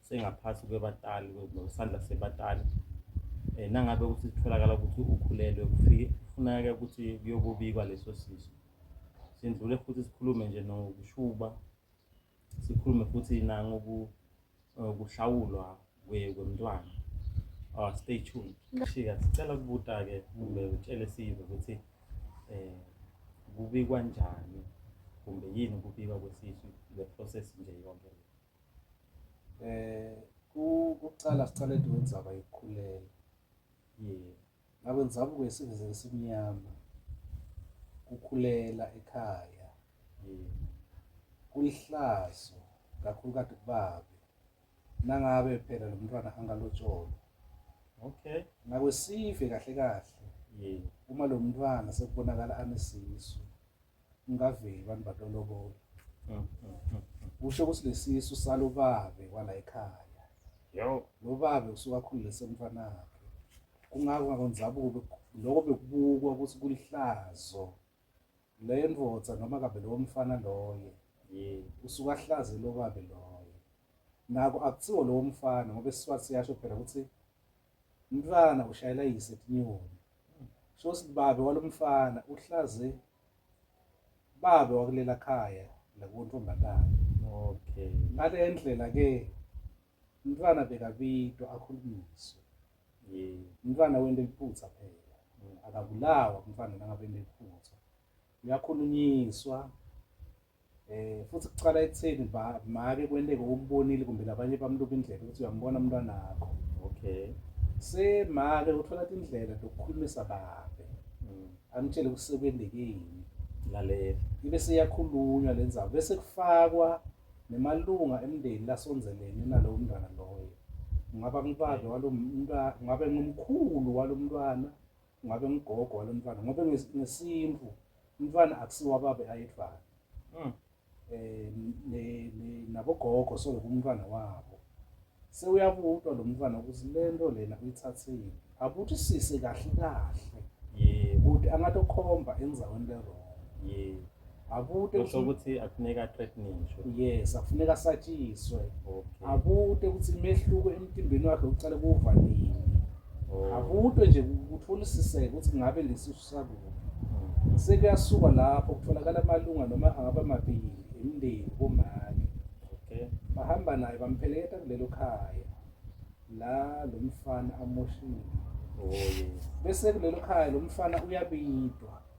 sengaphansi kwebatali kwesandla sebatali um nangabe ukuthi kutholakala ukuthi ukhulelwe kufuneka ukuthi kuyokubikwa leso siso sindlule futhi sikhulume nje nokushuba sikhulume futhi nangokuhlawulwa eh, kwemntwana uh, stay tuned shika sicela ukubuta-ke kumbe utshele sive ukuthi um kubikwa njani kumbe yini ukubikwa kwesisu le process nje yonke Eh kuqala siqale into wenzaba yokukhulelwa. Yebo. Ngabe ngizama ukuyisebenzisa esimnyama. Ukukhulela ekhaya. Yebo. Kulihlazo kakhulu kade kubabe. Nangabe phela lo mntwana angalotsholwa. Okay. Ngabe sive kahle kahle. Yebo. Uma lo mntwana sekubonakala anesisu. ngingaveli abantu batolobola mm, mm, mm, kusho ukuthi lesisu salobabe kwala ekhaya yo lo babe usuke akhululise umfana wakhe kungako ngakonzabuko lokho bekubukwa ukuthi kulihlazo le ndoda noma kabe lowo mfana loye usuke ahlaze lo babe loye nako akuthiwo lowo mfana ngoba isiswathi siyasho phela ukuthi Umntwana ushayela yise tinyoni. Sho sithi babe walomfana uhlaze babe wakulela khaya la kuntombazane. Okay. Ngale ndlela ke umntwana bekabitwa akhulunyiswe. Yeah. Umntwana wente liphutha phela. Akabulawa umntwana nangabe nephutha. uyakhulunyiswa eh futhi kuqala ekutheni ba make kwenteke umbonile kumbe labanye bamluka indlela ukuthi uyambona umntwana wakho okay semake uthola indlela lokukhulumisa babe mm. amtshele kusekwendekeni lalela ibe seyakhulunywa lenzaba bese kufakwa nemalunga emndeni lasonzelene nalowo mntwana loyo ngaba ngibadla walo mntwana ngabe ngumkhulu walo mntwana ngabe ngigogo walo mfana ngoba ngesintu umfana akusiwa babe ayedvana mm. eh nabogogo so kumntwana wabo sewuyabutwa lo mntwana ukuthi lento lena uyithathile abuthi sise kahle kahle yebo ukuthi angatokhomba enzaweni lerona yebo akute kusho ukuthi akufuneka treatniswe yes afuneka asatshiswe akute ukuthi imehluko emtimbeni wakhe uqale kuva nini oh. akute nje kutholisiseke ukuthi ngabe lesisu sakuphi mm-hmm. sekuyasuka lapho kutholakala amalunga noma angaba mabili emndeni komake okay bahamba naye bampheleketa kulelo khaya la lo mfana amoshile oh yes bese kulelo khaya lo mfana uyabidwa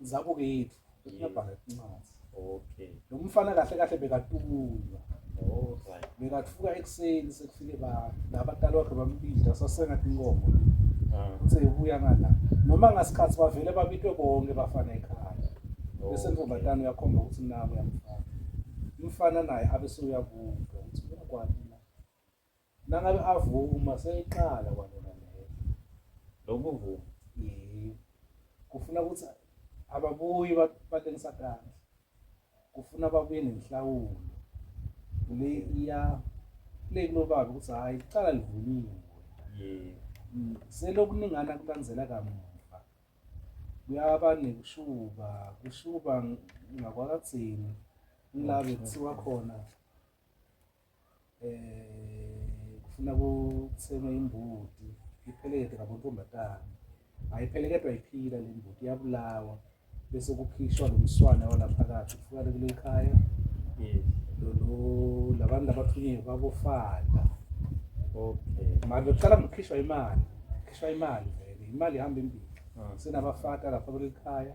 zakokwethu bekuyabhala incwadi okay lo mfana kahle kahle bekatulwa alright bekathuka ekuseni sekufike ba labatali wakhe bambidla sasengathi inkomo ah. uthe ubuya ngala noma ngasikhathi bavele babitwe bonke bafana ekhaya bese ntombazane uyakhomba ukuthi nawe uyamfana umfana naye abe sewuyabuka ukuthi uyakwati Nangabe avuma seyiqala kwanona leyo. Lokuvuma. Yebo. Kufuna ukuthi ababuyi batengisa kahle. Kufuna babuye nenhlawulo. Le iya le kunobaba ukuthi hayi iqala livuliwe. Yebo. Mm, selokuningana kulandzela kamuva. Kuyaba nekushuba, kushuba ngakwakadzeni. Ngila bekuthiwa khona eh kufuna kuthengwe imbuti ipheleke ngabontombazane ayipheleketwa iphila le mbuti iyabulawa bese kukhishwa lo mswane walaphakathi kufukale kule khaya lolo labantu abathunyiwe babofada okay manje kuqala ngokukhishwa imali khishwa imali vele imali ihamba embili ah. sinabafata lapha kule khaya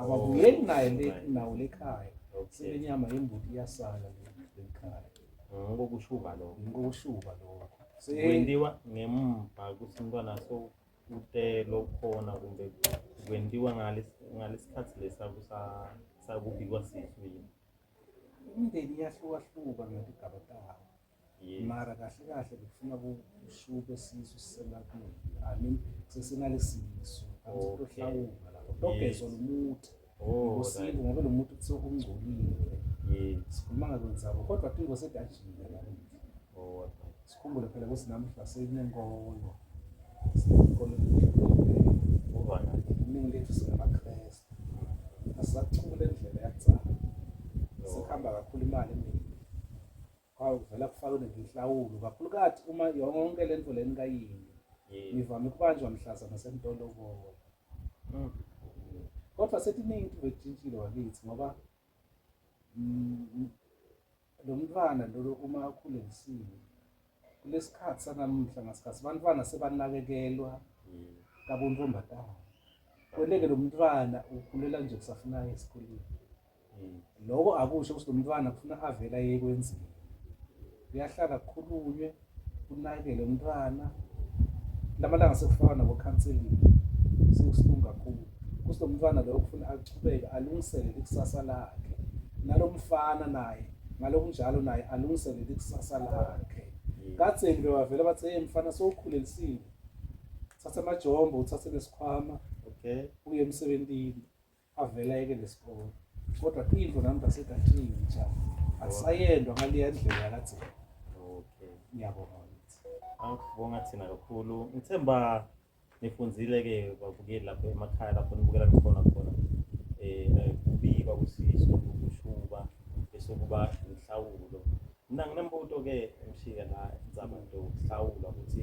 ababuyeli naye nawo lekhaya sebenyama yembuti iyasala lekhaya ngokushuba lokho ngokushuba lokho kwendiwa ngemva kuthi umntwana so utelo khona kumbe kwendiwa ngalesikhathi lesa sakubikwa sisu yini imindeni iyahlukahluka ngetigaba tawo Yes. mara kahle kahle bekufuna kushuke sisu siselapini i mean sesinalesisu Okay. kuhlawunga lapho togezwa Yes. lomuthi Oh, ngosibo right. ngoba lomuthi kuthiwa ungcolile Yes. sikhuluma ngakwenzabo kodwa tingo sedajile namuhla Oh, what right. sikhumbule phela ukuthi namuhla sekunenkolo sinenkolo Over right. iningi lethu singamakrestu asisacula indlela yakucala No. sikhamba kakhulu imali eningi Hawu vele akufakele ngenhlawulo kakhulukathi uma yonke le nto leni kayini. Yebo. Ngivame ukubanjwa mhlazana sengitolobola. Mm. Kodwa setiningi into betshintshile wakithi ngoba mm, lo mntwana lolo uma akhule ngisile kulesikhathi sanamuhla ngasikhathi abantwana sebanakekelwa Mm. kabontombazana. Kweleke lo mntwana ukhulela nje kusafuna aye esikoleni. loko akusho ukuthi lomntwana kufuna avela yekwenzile kuyahlala kukhulunywe kunakele umntwana lamalanga sekufaka nabo counseling sekusilungu kakhulu kuthi lomntwana lo kufuna aqhubeke alungisele ikusasa lakhe nalomfana naye ngalokunjalo naye alungisele ikusasa lakhe katseni bewavela bathi hey mfana sowukhulelisile thatha amajombo uthathe nesikhwama okay uye emsebenzini avele ayeke lesikole kodwa into nami ngasethi athini cha akusayendwa ngaleya ndlela yakadzela okay ngiyabonga angibonga thina kakhulu ngithemba nifunzile ke babukeli lapho emakhaya lapho nibukela khona khona eh, eh kubikwa kusiso kushuba bese kuba inhlawulo mina nginembuto ke emshika la inzaba nto kuhlawula ukuthi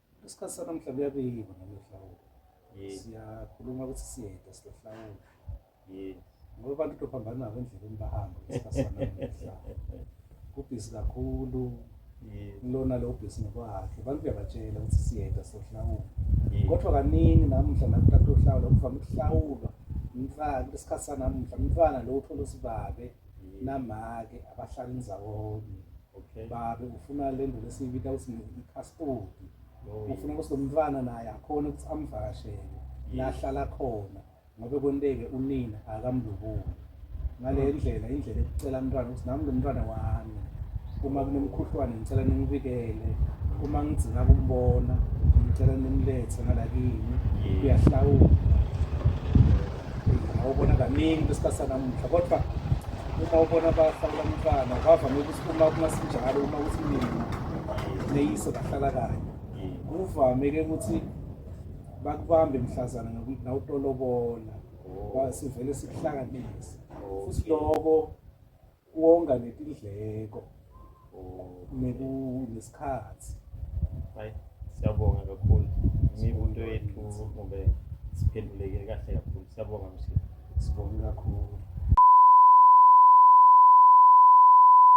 Isikhathi sanamuhla kuyabiyiwa nalohlawulo. Siyakhuluma ukuthi siyeda silohlawulo. Yebo. Ngoba abantu utophambana nabo endleleni bahamba isikhathi sanamuhla. Kubhizi kakhulu. Lona lo bhizi nokwakhe. Abantu kuyabatshela ukuthi siyeda silohlawulo. Kodwa kaningi namuhla nakuthatha uhlawulo kuvame ukuhlawulwa umfana isikhathi sanamuhla umfana lo uthola usibabe namake abahlala ndzawonye okay babe ufuna le nduna esiyibita ukuthi i-passport ufuna ukuthi lo mntwana naye akhona ukuthi amvakashele lahlala khona ngobe kwenteke unina akamlubuli ngale ndlela indlela ekucela umntwana ukuthi nami lo mntwana wami uma kunomkhuhlwane ngicela ningibikele uma ngigcina kumbona ngicela nimlethe ngalakini uyahlawula Ngawubona kaningi kwesikhathi sanamuhla kodwa uma ubona bahlawula umntwana kwavame ukuthi uma kungasinjalo uma kuthi mina neyiso bahlala kanye kuvame-ke ukuthi bakubambe mhlazana ngokuthi nawutolobola sivele sikuhlanganise futhi loko wonga netindleko nesikhathi hayi siyabonga kakhulu imibuto yethu kumbe siphenduleke kahle kakhulu siyabonga msini sibonge kakhulu